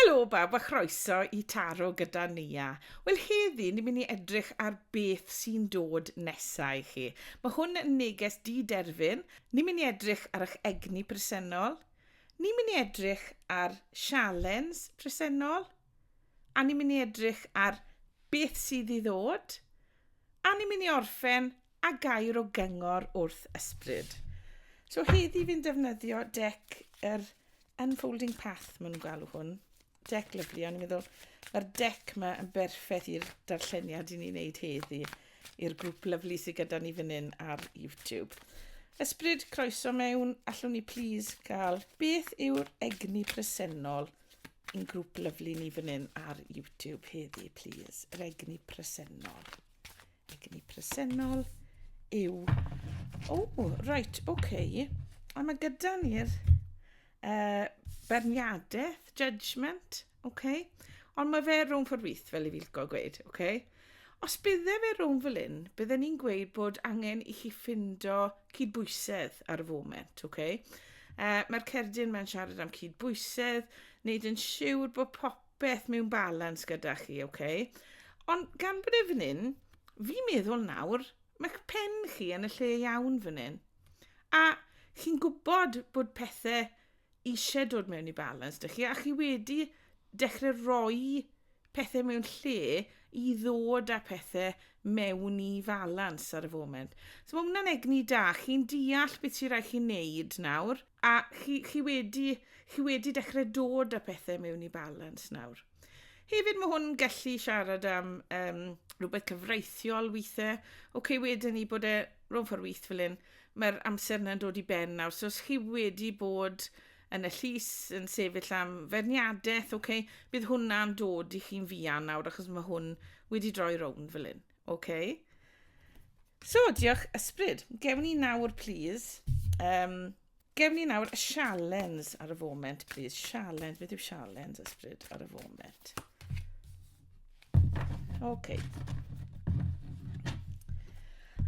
Helo bawb a chroeso i Taro gyda Nia. Wel heddi ni'n mynd i edrych ar beth sy'n dod nesa i chi. Mae hwn yn neges di-derfyn, ni'n mynd i edrych ar eich egni presennol, ni'n mynd i edrych ar sialens presennol, a ni'n mynd i edrych ar beth sydd i ddod, a ni'n mynd i orffen A gair o gyngor wrth ysbryd. So heddi fi'n defnyddio deck yr Unfolding Path, maen nhw'n galw hwn. Deck lyflu, ond i'n meddwl, mae'r deck yma yn berffaith i'r darlleniad i ni'n neud heddi, i'r grŵp lyflu sydd gyda ni fan hyn ar YouTube. Ysbryd, croeso mewn, allwn ni plis gael beth yw'r egni presennol i'n grŵp lyflu ni fan hyn ar YouTube heddi, plis, yr egni presennol. Egni presennol yw... O, oh, reit, oce. Okay. A mae gyda ni'r uh, berniadaeth, judgment, oce. Okay. Ond mae fe rhwng ffordd wyth, fel i fi licio gweud, oce. Okay. Os bydde fe rhwng fel un, bydde ni'n gweud bod angen i chi ffindo cydbwysedd ar y foment, oce? Okay? Uh, Mae'r cerdyn mae'n siarad am cydbwysedd, wneud yn siŵr bod pop beth mewn balans gyda chi, oce? Okay? Ond gan bod e fan hyn, fi'n meddwl nawr, mae'ch pen chi yn y lle iawn fan hyn. A chi'n gwybod bod pethau eisiau dod mewn i balans dych chi, a chi wedi dechrau roi pethau mewn lle i ddod â pethau mewn i falans ar y foment. So mae hwnna'n egni da, chi'n deall beth sy'n rhaid chi'n neud nawr, A chi, chi, wedi, chi wedi dechrau dod â pethau mewn i balans nawr. Hefyd mae hwn gallu siarad am um, rhywbeth cyfreithiol weithiau. Oce, okay, wedyn ni bod e rhwng ffordd weith fel hyn, mae'r amser yna'n dod i ben nawr. So os chi wedi bod yn y llys yn sefyll am ferniadaeth, oce, okay, bydd hwnna'n dod i chi'n fuan nawr achos mae hwn wedi droi rownd fel hyn. OK. So, diolch ysbryd. Gewn ni nawr, please. Um, gewn ni nawr y sialens ar y foment, please. Sialens, beth yw sialens ysbryd ar y foment? OK.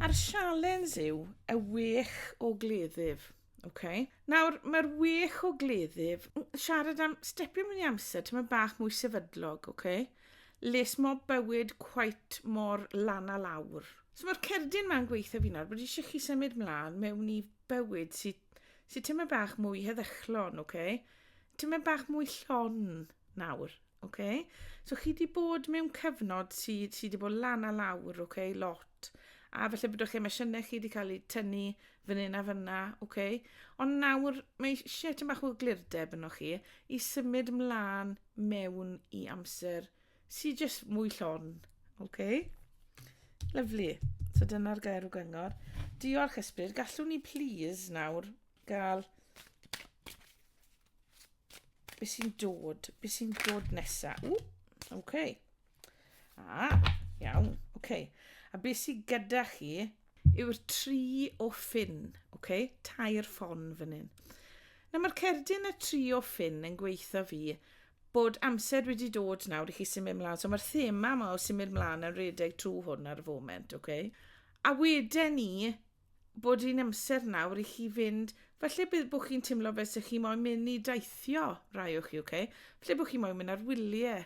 A'r sialens yw y wych o gleddyf. Oce. Nawr, mae'r wych o gleddyf, mm, siarad am stepio mewn i amser, ti'n mynd bach mwy sefydlog, oce? Les mo bywyd quite mor lan a lawr. So mae'r cerdyn ma'n gweithio fi nawr, bod eisiau chi symud mlaen mewn i bywyd sydd sy ti'n mynd bach mwy heddychlon, oce? Ti'n mynd bach mwy llon nawr, oce? So chi di bod mewn cyfnod sydd sy di bod lan a lawr, oce, lot. A felly bod o'ch emosiynau chi wedi cael eu tynnu fan hyn a fan na, ok. Ond nawr, mae eisiau tyn bach o glirdeb yno chi i symud mlaen mewn i amser sy'n jyst mwy llon. Ok? Lyflu. So dyna'r gair o gyngor. Diolch ysbryd. Gallwn ni please nawr gael Be sy'n dod? Be sy'n dod nesa? Ww, oce. Okay. A, iawn, oce. Okay. A be sy'n gyda chi yw'r tri o ffin, oce? Okay? Tair ffon fan hyn. Na, mae'r cerdyn y tri o ffin yn gweithio fi bod amser wedi dod nawr i chi symud mlaen. So mae'r thema yma o symud mlaen yn redeg trwy hwn ar y foment, oce? Okay? A wedyn ni, bod hi'n amser nawr i chi fynd, falle bydd bod chi'n teimlo fel sy'ch chi moyn mynd i daithio rai o'ch chi, okay? falle bod chi moyn mynd ar wyliau,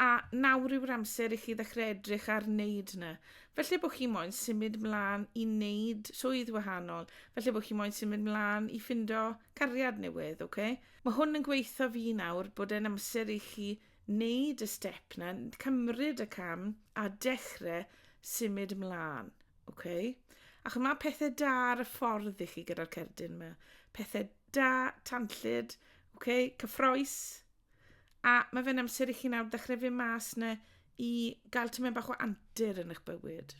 a nawr yw'r amser i chi ddechrau edrych ar wneud yna. Felly bod chi moyn symud mlaen i wneud swydd wahanol, felly bod chi moyn symud mlaen i ffindo cariad newydd, okay? Mae hwn yn gweithio fi nawr bod e'n amser i chi Neud y step 'na, cymryd y cam a dechre symud mlan, oce? A ch'mo' ma' pethe da ar y ffordd i chi gyda'r cerdyn 'ma. Pethe da, tanllyd, oce, cyffrous. A ma' fe'n amser i chi nawr ddechre fyn' mas 'na i ga'l tymed bach o antur yn 'ych bywyd.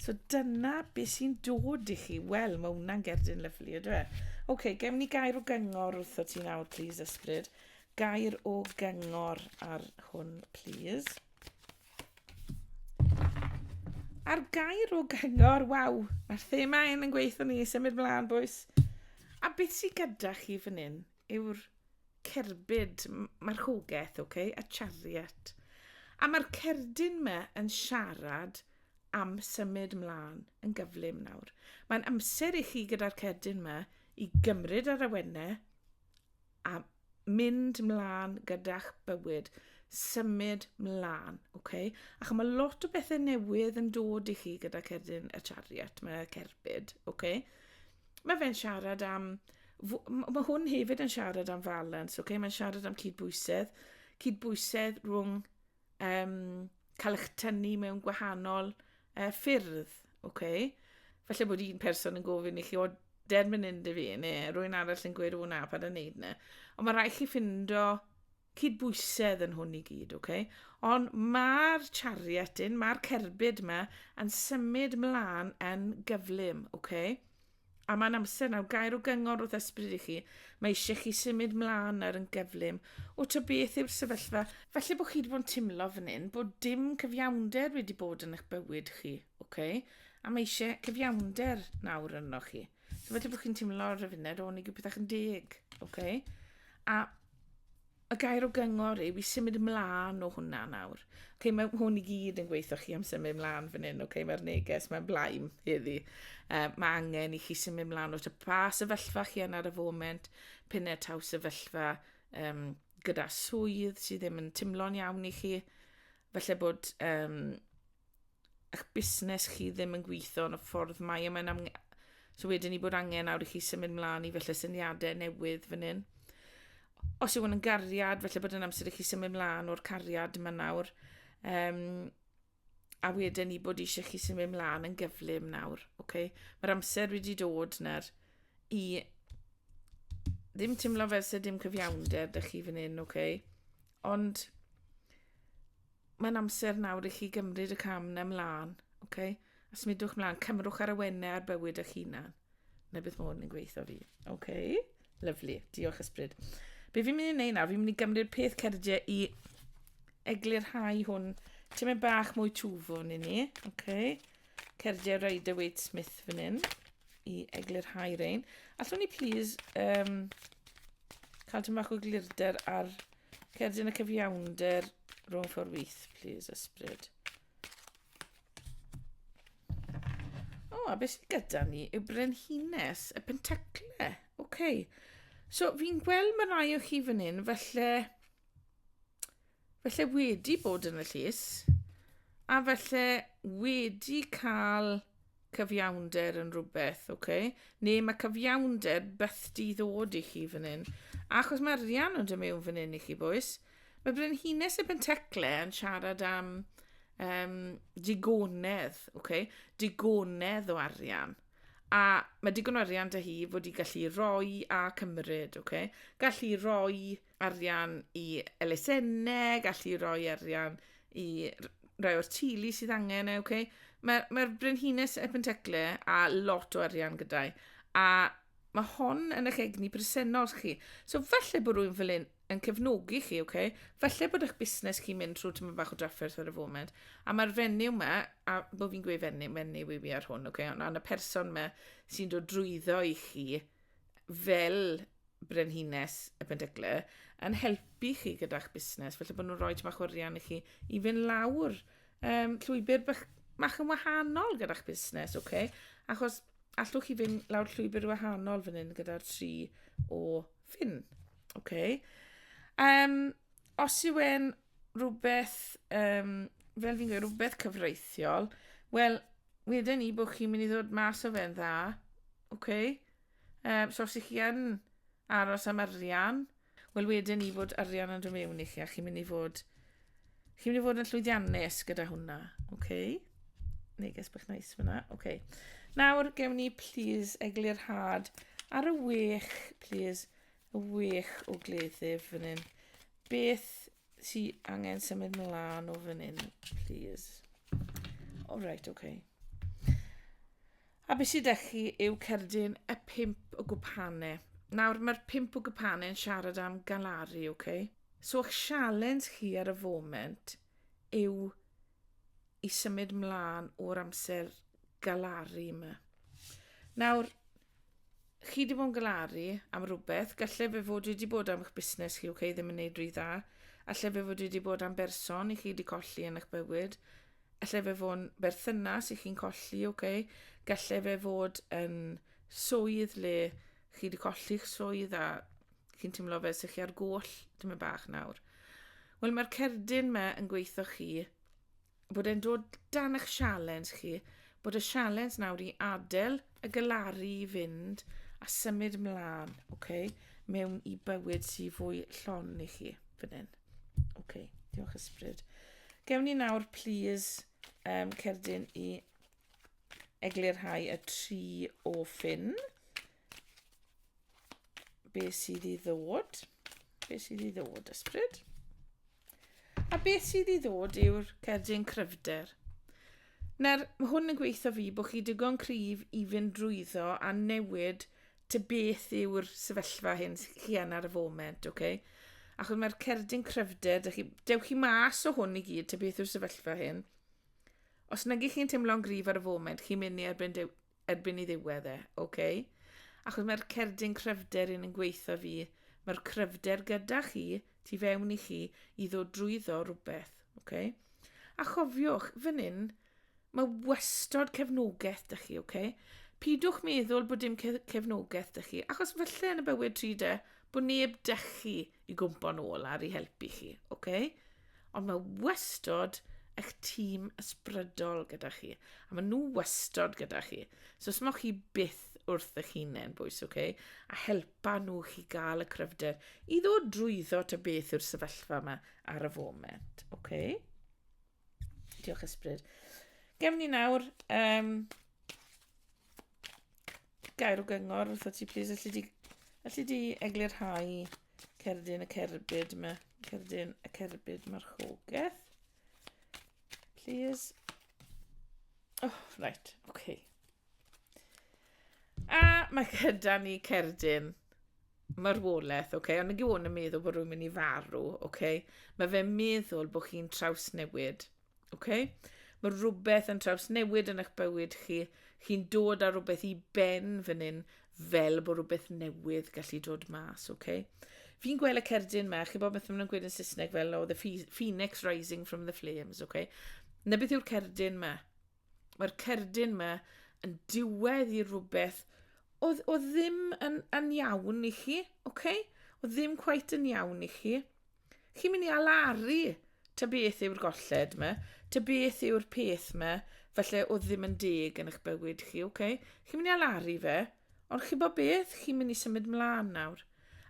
So dyna beth sy'n dod i chi. Wel, mae hwnna'n gerdyn lyflu, ydw e? Oce, okay, gem ni gair o gyngor wrtho ti nawr, please, ysbryd. Gair o gyngor ar hwn, please. A'r gair o gyngor, waw, mae'r thema hyn yn gweithio ni, symud mlaen, bwys. A beth sy'n gyda chi fan hyn? yw'r cerbyd, mae'r rhwgeth, ok, y chariot. A mae'r cerdyn yma yn siarad am symud mlaen yn gyflym nawr. Mae'n amser i chi gyda'r cerdyn yma i gymryd ar awennau a mynd mlaen gyda'ch bywyd, symud mlaen, ok? Ac mae lot o bethau newydd yn dod i chi gyda cerdyn y chariot, mae'r cerbyd, ok? Mae fe'n siarad am... Mae hwn hefyd yn siarad am falans, okay? mae'n siarad am cydbwysedd. Cydbwysedd rhwng um, cael eich tynnu mewn gwahanol uh, ffyrdd. Okay? Felly bod un person yn gofyn i chi, o, dermyn yn dy fi, neu rwy'n arall yn gweud, o na, pa'n yn neud na. Ond mae rhaid chi ffindo cydbwysedd yn hwn i gyd, ok? Ond mae'r chariot yn, mae'r cerbyd yma yn symud mlaen yn gyflym, ok? A mae'n amser nawr, gair o gyngor wrth ysbryd i chi, mae eisiau chi symud mlaen nawr yn gyflym. O to beth yw'r sefyllfa? Felly bod chi wedi bod yn timlo fan hyn bod dim cyfiawnder wedi bod yn eich bywyd chi, ok? A mae eisiau cyfiawnder nawr yno chi. So felly bod chi'n timlo ar y funud, o'n i gyda pethau'n deg, ok? A y gair o gyngor yw i symud ymlaen o hwnna nawr. Okay, mae hwn i gyd yn gweithio chi am symud ymlaen fan hyn, okay, mae'r neges, mae'n blaen heddi. Uh, mae angen i chi symud ymlaen o ta pa sefyllfa chi yn ar y foment, pyn e taw sefyllfa um, gyda swydd sydd ddim yn timlo'n iawn i chi. Felly bod um, eich busnes chi ddim yn gweithio yn y ffordd mae yma'n am... So wedyn ni bod angen awr i chi symud mlaen i felly syniadau newydd fan hyn. Os yw hwn yn gariad, felly bod yn amser i chi symud mlaen o'r cariad yma nawr. Um, a wedyn ni bod eisiau chi symud mlaen yn gyflym nawr. Okay? Mae'r amser wedi dod nawr i ddim teimlo fel sydd dim cyfiawnder da chi fan hyn, okay? Ond Mae'n amser nawr i chi gymryd y cam na mlaen, ok? A smidwch mlaen, cymrwch ar y wenne ar bywyd eich hunan. Na beth mwyn yn gweithio fi. Ok? Lyflu. Diolch ysbryd. Be fi'n mynd i wneud nawr, fi'n mynd i gymryd peth cerdiau i eglurhau hwn. Ti'n mynd bach mwy twfwn i ni, ok? Cerdiau Rider Waite Smith fan hyn i eglurhau rein. Allwn ni please um, cael tymach o glirder ar Cerdyn y cyfiawnder rhwng ffordd wyth, please, ysbryd. O, oh, a beth sydd gyda ni yw brenhines y pentacle. Oce. Okay. So, fi'n gweld mae rai o chi fan hyn, felly... Felly wedi bod yn y llys, a felly wedi cael Cyfiawnder yn rhywbeth, oce? Neu mae cyfiawnder byth di ddod i chi fan hyn. Achos mae Rian yn dymu fan hyn i chi, boes. Mae Brenhines y Pentecle yn siarad am um, digonedd, okay? digonedd o arian. A mae digon o arian da hi fod i gallu roi a cymryd, okay? gallu roi arian i elusennau, gallu rhoi arian i rhai o'r tili sydd angen e, okay? Mae'r mae, mae brenhines y pentecle a lot o arian gyda'i. A mae hon yn eich egni presennol chi. So falle bod rhywun fel un yn cefnogi chi, okay? Falle bod eich busnes chi'n mynd trwy tyma bach o drafferth ar y foment. A mae'r fenyw yma, a bod fi'n gweud fenyw, menyw i fi ar hwn, okay? Ond y person yma sy'n dod drwyddo i chi fel Brenhines y Pendygle yn helpu chi gyda'ch busnes, felly bod nhw'n rhoi bach o rian i chi i fynd lawr um, llwybr bach, bach yn wahanol gyda'ch busnes, oce? Okay? Achos allwch chi fynd lawr llwybr wahanol fan hyn gyda'r tri o ffyn, oce? Okay? Um, os yw e'n rhywbeth, um, fel fi'n gweud, rhywbeth cyfreithiol, wel, wedyn ni bod chi'n mynd i ddod mas o fe'n dda, oce? Okay? Um, so os ych chi yn aros am arian, wel wedyn i fod arian yn dod mewn i chi, a chi'n mynd i fod, chi'n mynd i fod yn llwyddiannus gyda hwnna, oce? Okay? Neges bych nice fyna, oce. Okay. Nawr, gewn ni, please, eglurhad ar y wech, please, y wech o gleddyf fan hyn. Beth Ti angen symud mlaen o fan hyn, please. O, oh, right, okay. A beth sydd eich chi yw cerdyn y pimp o gwpanau. Nawr, mae'r pimp o gwpanau yn siarad am galaru, oce? Okay? So, eich sialens chi ar y foment yw i symud mlaen o'r amser galaru yma. Nawr, chi wedi bod yn galaru am rhywbeth, gallai fe fod wedi bod am eich busnes chi, okay, ddim yn neud rhy dda, allai fe fod wedi bod am berson i chi wedi colli yn eich bywyd, allai fe fod yn berthynas i chi'n colli, okay, gallai fe fod yn swydd le chi wedi colli'ch swydd a chi'n teimlo fe sy'ch chi ar goll, dim yn bach nawr. Wel, mae'r cerdyn me yn gweithio chi bod e'n dod dan eich sialens chi, bod y sialens nawr i adael y galaru i fynd a symud mlaen, okay, mewn i bywyd sy'n fwy llon i chi fan hyn. Okay, diolch ysbryd. Gewn ni nawr, please, um, cerdyn i eglurhau y tri o ffyn. Be sydd i ddod? Be sydd i ddod, ysbryd? A beth sydd i ddod yw'r cerdyn cryfder. Nawr, mae hwn yn gweithio fi bod chi digon cryf i fynd drwyddo a newid ty beth yw'r sefyllfa hyn sy'n chi yn ar y foment, oce? Okay? Achos mae'r cerdyn cryfder, dewch chi, dew chi mas o hwn i gyd ty beth yw'r sefyllfa hyn. Os nag ych chi'n teimlo'n gryf ar y foment, chi'n mynd i erbyn dew, erbyn i ddiwedd e, oce? Okay? Achos mae'r cerdyn cryfder yn yn gweithio fi, mae'r cryfder gyda chi, tu fewn i chi, i ddod drwyddo rhywbeth, oce? Okay? A chofiwch, fan hyn, mae wastod cefnogaeth dych chi, oce? Okay? Pidwch meddwl bod dim cefnogaeth dych chi, achos felly yn y bywyd tri de, bod neb dych chi, oce? i gwmpo nôl ar i helpu chi, oce? Okay? Ond mae wastod eich tîm ysbrydol gyda chi, a maen nhw wastod gyda chi. So os mae chi byth wrth eich hunain, bwys, oce? Okay? A helpa nhw chi gael y cryfder i ddod drwyddo ta beth yw'r sefyllfa yma ar y foment, oce? Okay? Diolch ysbryd. Gefn ni nawr, um, Gair o gyngor wrtho ti, plis. Alli di, alli di eglurhau cerdyn y cerbyd yma. Cerdyn y cerbyd marchogaeth. Plis. Oh, right, oce. Okay. A mae gyda ni cerdyn marwolaeth, oce? Okay? Ond nag yw hwn yn meddwl bod rhywun mynd i farw, oce? Okay? Mae fe'n meddwl bod chi'n trawsnewid. Okay? Mae rhywbeth yn trawsnewid yn eich bywyd chi. Chi'n dod â rhywbeth i ben fan hyn fel bod rhywbeth newydd gallu dod mas, oce? Okay? Fi'n gweld y cerdyn ma, chi bod beth maen nhw'n gweud yn Saesneg fel, oh, the phoenix rising from the flames, oce? Okay? Na beth yw'r cerdyn ma. Mae'r cerdyn ma yn diwedd i rhywbeth o, o ddim yn, yn iawn i chi, oce? Okay? O ddim cwaith yn iawn i chi. Chi'n mynd i alaru ta beth yw'r golled yma, ta beth yw'r peth yma, felly oedd ddim yn deg yn eich bywyd chi, oce? Okay? Chi'n mynd i alaru fe, ond chi bod beth, chi'n mynd i symud mlaen nawr.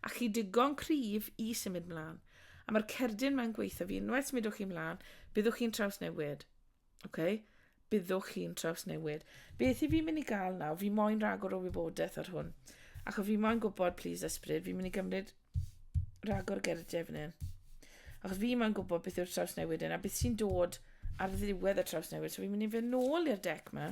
A chi digon cryf i symud mlaen. A mae'r cerdyn mae'n gweithio fi, unwaith symudwch chi mlaen, byddwch chi'n trawsnewid. Ok, byddwch chi'n trawsnewid. Beth i fi'n mynd i gael nawr? Fi moyn rhagor o wybodaeth ar hwn. Ac o fi moyn gwybod, please, ysbryd, fi'n mynd i gymryd rhagor gerdiau fan hyn. Achos fi moyn gwybod beth yw'r trawsnewid hyn a beth sy'n dod ar ddiwedd y trawsnewid. So fi'n mynd i fe nôl i'r dec ma.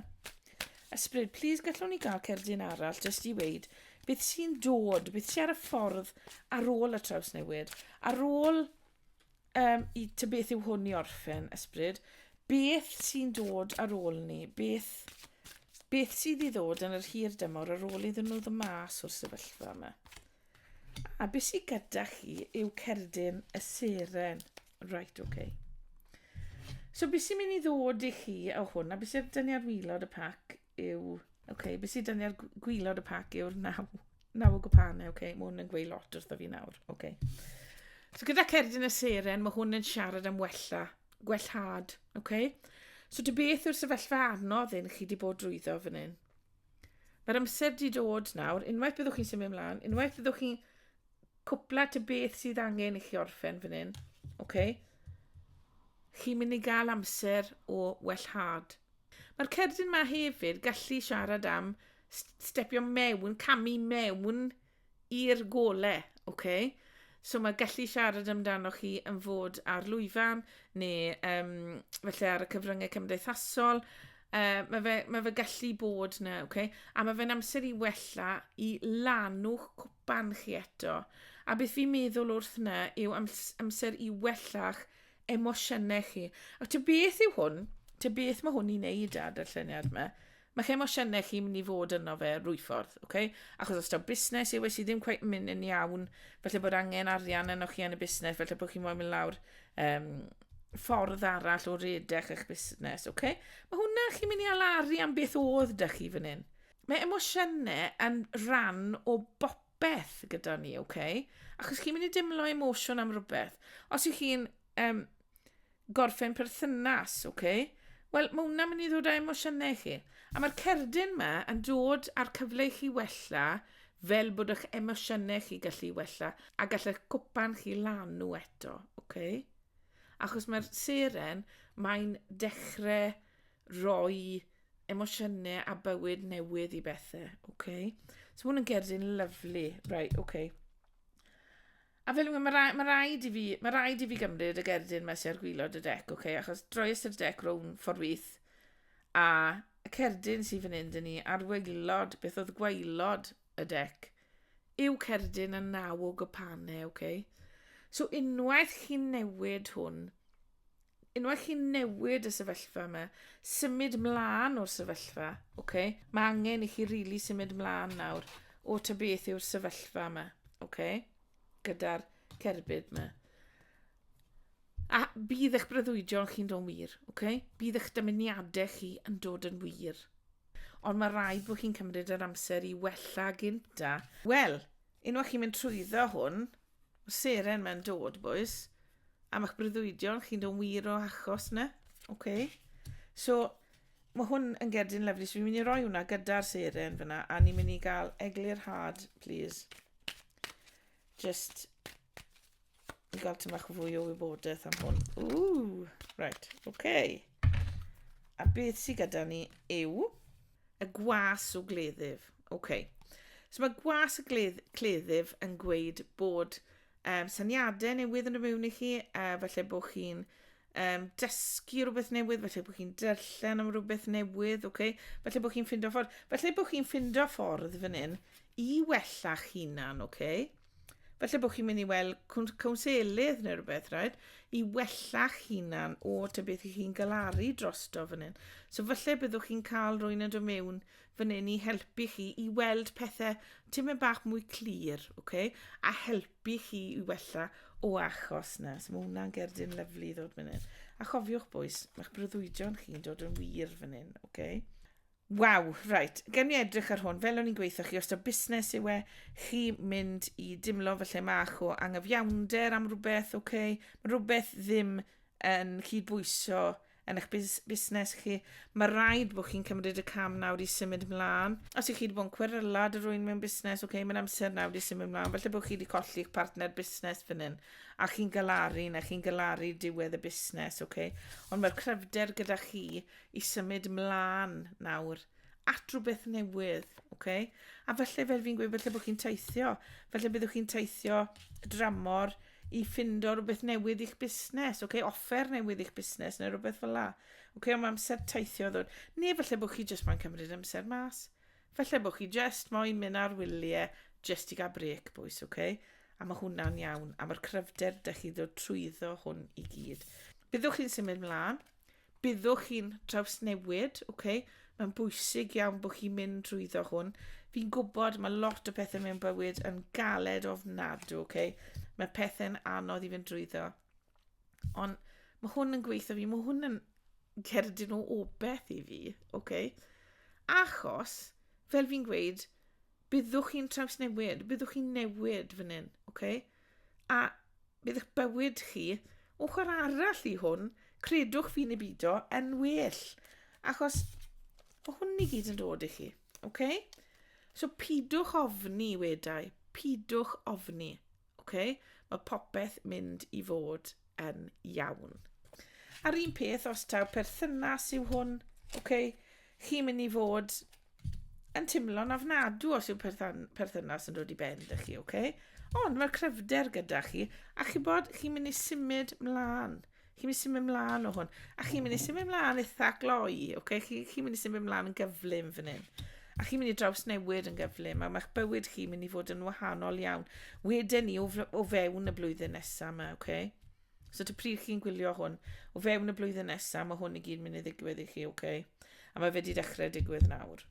Ysbryd, please, gallwn ni gael cerdyn arall jyst i weid beth sy'n dod, beth sy'n ar y ffordd ar ôl y trawsnewid, ar ôl um, i ty beth yw hwn i orffen, ysbryd, beth sy'n dod ar ôl ni, beth, beth sydd i ddod yn yr hir dymor ar ôl iddyn nhw ddod mas o'r sefyllfa yma. A beth sydd gyda chi yw cerdyn y seren. Right, okay. So beth sy'n mynd i ddod i chi o hwn, a beth sy'n dynnu ar wylod y pac yw... Ok, be sydd 'da ni ar gw- gwylod y pac yw'r naw, naw o gwpanau. Ok, mae hwn yn gweud lot wrtho fi nawr. Ok. So gyda Cerdyn y Seren, mae hwn yn siarad am wella, gwellhad. Ok? So dy beth yw'r sefyllfa anodd hyn chi wedi bod drwyddo fan hyn? Mae'r amser wedi dod nawr, unwaith byddwch chi'n symud ymlaen, unwaith byddwch chi'n cwpla dy beth sydd angen i chi orffen fan hyn. Ok? Chi'n mynd i gael amser o wellhad. Mae'r cerdyn 'ma hefyd gallu siarad am stepio mewn, camu mewn i'r gole, oce? So mae gallu siarad amdanoch chi yn fod ar lwyfan neu um, felly ar y cyfryngau cymdeithasol. Uh, mae, fe, mae fe gallu bod na, oce? A mae fe'n amser i wella, i lanw'ch cwp barn chi eto, a beth fi'n meddwl wrth na yw amser i wella'ch emosiynau chi. A ty beth yw hwn? Ty beth mae hwn i'n neud â darlleniad yma? Mae'ch emosiynau chi'n mynd i fod yno fe rwy ffordd, okay? achos os da busnes yw e sydd ddim cweith mynd yn iawn, felly bod angen arian yno chi yn y busnes, felly bod chi'n mynd lawr um, ffordd arall o redeg eich busnes, okay? Mae hwnna chi'n mynd i alaru am beth oedd da chi fan hyn. mae emosiynau yn rhan o bopeth gyda ni, oce? Okay? Achos chi'n mynd i dimlo emosiwn am rhywbeth. Os ych chi'n um, gorffen perthynas, oce? Okay? Wel, mae hwnna'n mynd i ddod â emosiynau chi. A mae'r cerdyn yma yn dod â'r cyfle i chi wella fel bod eich emosiynau chi gallu wella a gallech cwpan chi lan nhw eto, oce? Okay? Achos mae'r seren, mae'n dechrau roi emosiynau a bywyd newydd i bethau, oce? Okay? So hwn yn gerdyn lyflu, right, oce. Okay. A fel yw, mae rhaid, ma raid i fi, mae rhaid i fi gymryd y gerdyn mae sy'n ar gwylod y dec, oce? Okay? Achos droi ystyr dec rown ffordd wyth, a y cerdyn sy'n fan hyn dyn ni ar wylod, beth oedd gwaelod y dec, yw cerdyn yn naw o gypanau, oce? Okay? So unwaith chi'n newid hwn, unwaith chi'n newid y sefyllfa yma, symud mlaen o'r sefyllfa, oce? Okay? Mae angen i chi rili really symud mlaen nawr o ta beth yw'r sefyllfa yma, oce? Okay? Gyda'r cerbyd yma. A bydd eich breuddwydion chi'n dod wir, oce? Okay? Bydd eich dymuniadau chi yn dod yn wir. Ond mae rhaid bod chi'n cymryd yr amser i wella gynta. Wel, unwaith chi'n mynd trwyddo hwn, Seren mae'n dod, boys. Am eich breuddwydion, chi'n dod wir o achos na. OK. So, mae hwn yn gerdyn lyflu. So, fi'n mynd i roi hwnna gyda'r seren fyna. A ni'n mynd i gael eglur hard, please. Just i gael tymach fwy o wybodaeth am hwn. Ooh, right, OK. A beth sydd gyda ni yw... Y gwas o gleddyf. OK. So mae gwas y gledd, cleddyf yn gweud bod um, syniadau newydd yn y mewn i chi, a uh, felly bod chi'n um, dysgu rhywbeth newydd, felly bod chi'n darllen am rhywbeth newydd, okay? felly bod chi'n ffindo ffordd, felly bod chi'n ffindo ffordd fan hyn i wella'ch hunan, okay? Felly bod chi'n mynd i weld cwnselydd neu rhywbeth, rhaid, i wella'ch hunan o ta beth i chi'n galaru drosto fan hyn. So felly byddwch chi'n cael rwy'n yn dod mewn fan hyn i helpu chi i weld pethau tymau bach mwy clir, okay? a helpu chi i wella o achos na. So mae hwnna'n gerdyn lyflu i ddod fan hyn. A chofiwch bwys, mae'ch breuddwydion chi'n dod yn wir fan hyn, okay? Waw, reit, gen mi edrych ar hwn, fel o'n i'n gweithio chi, os da busnes yw e, chi mynd i dimlo fy lle mach o angyfiawnder am rhywbeth, oce, okay? mae rhywbeth ddim yn cydbwyso yn eich busnes chi, mae rhaid bod chi'n cymryd y cam nawr i symud mlaen. Os ych chi wedi bod yn cweryla dy rwy'n mewn busnes, oce, okay, mae'n amser nawr i symud mlaen. Felly bod chi wedi colli eich partner busnes fan hyn, a chi'n galaru, neu chi'n galaru diwedd y busnes, oce. Okay? Ond mae'r cryfder gyda chi, i symud mlaen nawr at rhywbeth newydd, oce? A falle fel fi'n gweud, falle bod chi'n teithio, falle byddwch chi'n teithio dramor i ffindo rhywbeth newydd i'ch busnes, oce? Offer newydd i'ch busnes neu rhywbeth fel la. Oce, ond mae amser teithio ddod. Neu falle bod chi jyst moyn cymryd amser mas. Falle bod chi jyst moyn mynd ar wyliau jyst i gael brec, bwys, oce? A mae hwnna'n iawn, a mae'r cryfder dych chi ddod trwyddo hwn i gyd. Byddwch chi'n symud mlaen, Byddwch chi'n trawsnewid, ok, mae'n bwysig iawn bod chi'n mynd trwyddo hwn. Fi'n gwybod mae lot o pethau mewn bywyd yn galed ofnadw, ok, mae pethau'n anodd i fynd drwyddo. Ond mae hwn yn gweithio fi, mae hwn yn cerdyn o obeth i fi, ok. Achos, fel fi'n gweud, Byddwch chi'n trawsnewid, byddwch chi'n newid fan hyn, oce? A bydd eich bywyd chi, ochr arall i hwn, credwch fi neu bido, yn well. Achos mae hwn i gyd yn dod i chi, oce? So pidwch ofni, wedau, pidwch ofni. Ok, mae popeth mynd i fod yn iawn. A'r un peth os taw perthynas yw hwn, ok, chi'n mynd i fod yn timlo'n afnadw os yw perthynas yn dod i ben ydych chi, ok? Ond mae'r cryfder gyda chi, a chi bod chi'n mynd i symud mlaen. chi'n mynd symud mlaen o hwn. A chi'n mynd i symud mlaen eitha gloi, okay? chi, chi mynd i symud mlaen yn gyflym fan hyn. A chi'n mynd i draws newid yn gyflym, a mae'ch bywyd chi'n mynd i fod yn wahanol iawn. Wedyn ni o, o fewn y blwyddyn nesaf yma, okay? So ta pryd chi'n gwylio hwn, o fewn y blwyddyn nesaf, mae hwn i gyd mynd i ddigwydd i chi, okay? A mae fe wedi dechrau digwydd nawr.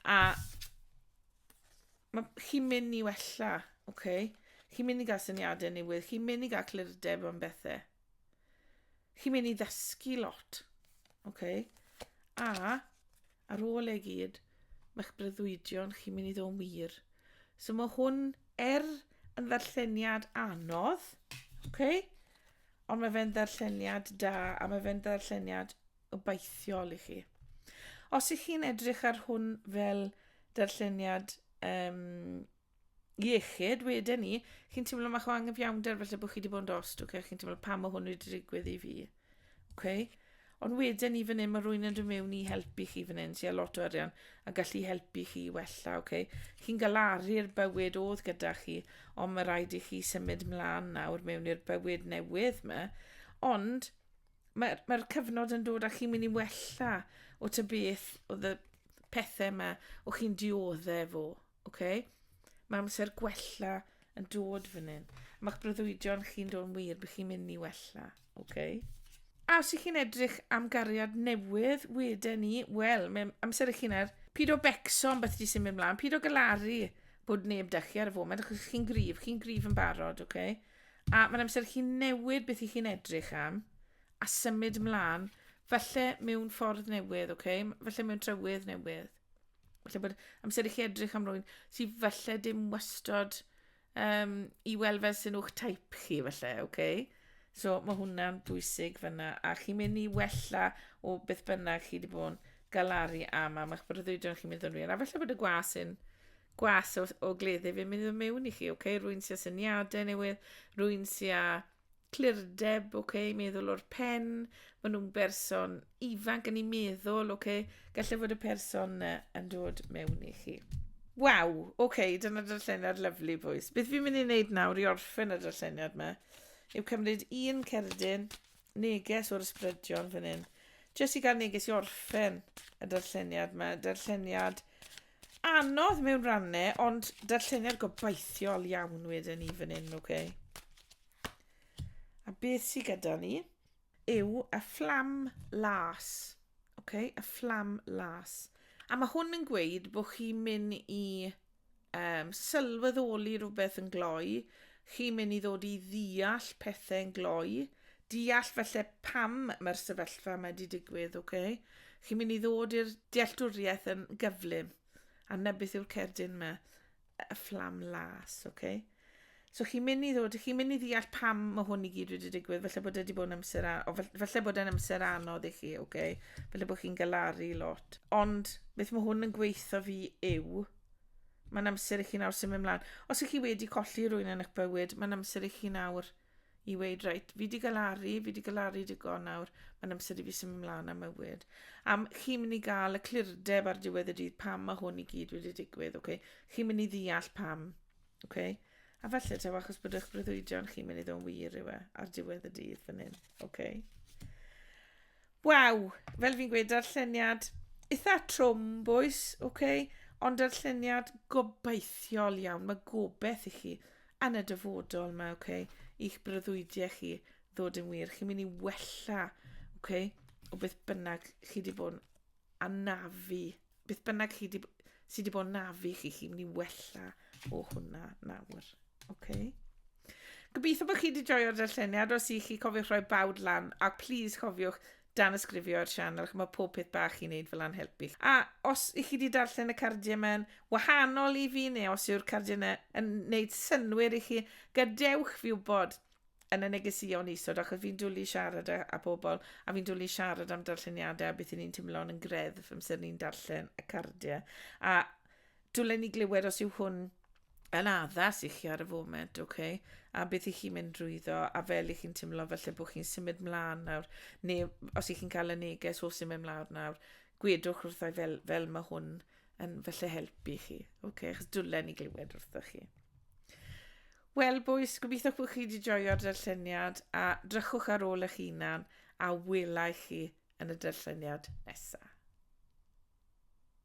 A Mae chi'n mynd i wella, oce? Okay? Chi'n mynd i gael syniadau newydd, chi'n mynd i gael clirdeb am bethau. Chi'n mynd i ddysgu lot, oce? Okay? A, ar ôl ei gyd, mae'ch breuddwydion chi'n mynd i ddod wir. So mae hwn er yn ddarlleniad anodd, oce? Okay? Ond mae fe'n ddarlleniad da, a mae fe'n ddarlleniad obeithiol i chi. Os ych chi'n edrych ar hwn fel darlleniad um, iechyd, wedyn ni, chi'n teimlo mae o angyfiawnder felly bod chi wedi bod yn dost, okay? chi'n teimlo pam mae hwn wedi digwydd i fi. Okay? Ond wedyn ni fan hyn, mae rwy'n yn dod mewn i helpu chi fan hyn, sy'n lot o arian, a gallu helpu chi wella, okay? Chi'n galaru'r bywyd oedd gyda chi, ond mae rhaid i chi symud mlaen nawr mewn i'r bywyd newydd yma. Ond, mae'r mae cyfnod yn dod a chi'n mynd i wella o ty beth o ddy pethau yma o chi'n dioddau fo. Okay? Mae amser gwella yn dod fan hyn. Mae'ch breuddwydion chi'n dod yn wir bych chi'n mynd i wella. Okay? A os ych chi'n edrych am gariad newydd, wedyn ni, wel, mae amser ych chi'n ar pyd o becso am beth di sy'n mynd mlaen, pyd o galaru bod neb da chi ar y foment, achos chi'n grif, chi'n grif yn barod, okay? A mae'n amser chi newid beth i chi'n edrych am a symud mlaen, falle mewn ffordd newydd, okay? falle mewn trywydd newydd. Falle bod amser i chi edrych am rwy'n sy'n falle dim wastod um, i weld fel sy'n o'ch taip chi, falle, okay? So mae hwnna'n bwysig fyna, a chi'n mynd i wella o beth bynnag chi wedi bod yn galaru am, am eich breuddwydion chi'n mynd yn wir. A falle bod y gwas yn gwas o, o gleddyf fi'n mynd yn mewn i chi, oce? Okay? Rwy'n sy'n syniadau newydd, rwy'n sy'n clirdeb, oce, okay? meddwl o'r pen, maen nhw'n berson ifanc yn ei meddwl, oce, okay? gallai fod y person yna yn dod mewn i chi. Waw, oce, okay, dyna darlleniad lyflu, bwys. Beth fi'n mynd i wneud nawr i orffen y darlleniad yma, yw cymryd un cerdyn, neges o'r ysbrydion fan hyn, jyst i gael neges i orffen y darlleniad yma, darlleniad Anodd mewn rannau, ond darlleniad gobeithiol iawn wedyn ni fan hyn, oce? Okay? A beth sydd gyda ni yw y fflam las, oce? Okay? Y fflam las. A mae hwn yn gweud bod chi'n mynd i um, sylweddoli rhywbeth yn gloi, chi'n mynd i ddod i ddeall pethau yn gloi, deall falle pam mae'r sefyllfa mae wedi digwydd, oce? Okay? Chi'n mynd i ddod i'r dealltwriaeth yn gyflym. A na beth yw'r cerdyn yma? Y fflam las, oce? Okay? So chi'n mynd i ddod, chi'n mynd i ddeall pam mae hwn i gyd wedi digwydd, falle bod wedi bod yn amser, a, o, falle bod yn amser anodd i chi, oce? Okay? Falle bod chi'n galaru lot. Ond beth mae hwn yn gweithio fi yw, mae'n amser i chi nawr symud ymlaen. Os ych chi wedi colli rwy'n yn eich bywyd, mae'n amser i chi nawr i weud, reit, fi di galaru, fi di galaru digon nawr, mae'n amser i fi symud ymlaen am mywyd. A chi'n mynd i gael y clirdeb ar diwedd y dydd pam mae hwn i gyd wedi digwydd, okay? chi'n mynd i ddeall pam. Okay? A falle taw achos bod eich breuddwydion chi'n mynd i ddod wir yw e ar diwedd y dydd fan hyn. Okay? Waw, fel fi'n gweud, darlleniad eitha trwm, boes, okay? ond darlleniad gobeithiol iawn. Mae gobeith i chi yn y dyfodol mae ok i'ch breuddwydiau chi ddod yn wir chi'n mynd i wella ok o beth bynnag chi wedi bod yn anafu beth bynnag chi wedi sy wedi bod yn nafu chi chi'n mynd i wella o hwnna nawr ok Gobeithio bod chi wedi joio'r darlleniad os i chi cofiwch rhoi bawd lan a please cofiwch danysgrifio ar sianel, chymod pob peth bach i wneud fel a'n helpu. A os i chi wedi darllen y cardiau mae'n wahanol i fi neu os yw'r cardiau yna yn wneud synwyr i chi, gadewch fi wybod yn y negesïon isod achos fi'n dwlu siarad â, â pobl a fi'n dwlu siarad am darlleniadau a beth i ni'n teimlo'n yn greddf amser ni'n darllen y cardiau. A dwlen ni glywed os yw hwn yn addas i chi ar y foment, ok, a beth i chi'n mynd drwyddo, a fel i chi'n teimlo felly bod chi'n symud mlaen nawr, neu os i chi'n cael y neges o symud mlaen nawr, gwedwch wrthau fel, fel mae hwn yn felly helpu chi, ok, achos dwlen i glywed wrtho chi. Wel, boes, gobeithio bod chi wedi joio'r darlleniad a drychwch ar ôl eich hunan a welai chi yn y darlleniad nesaf.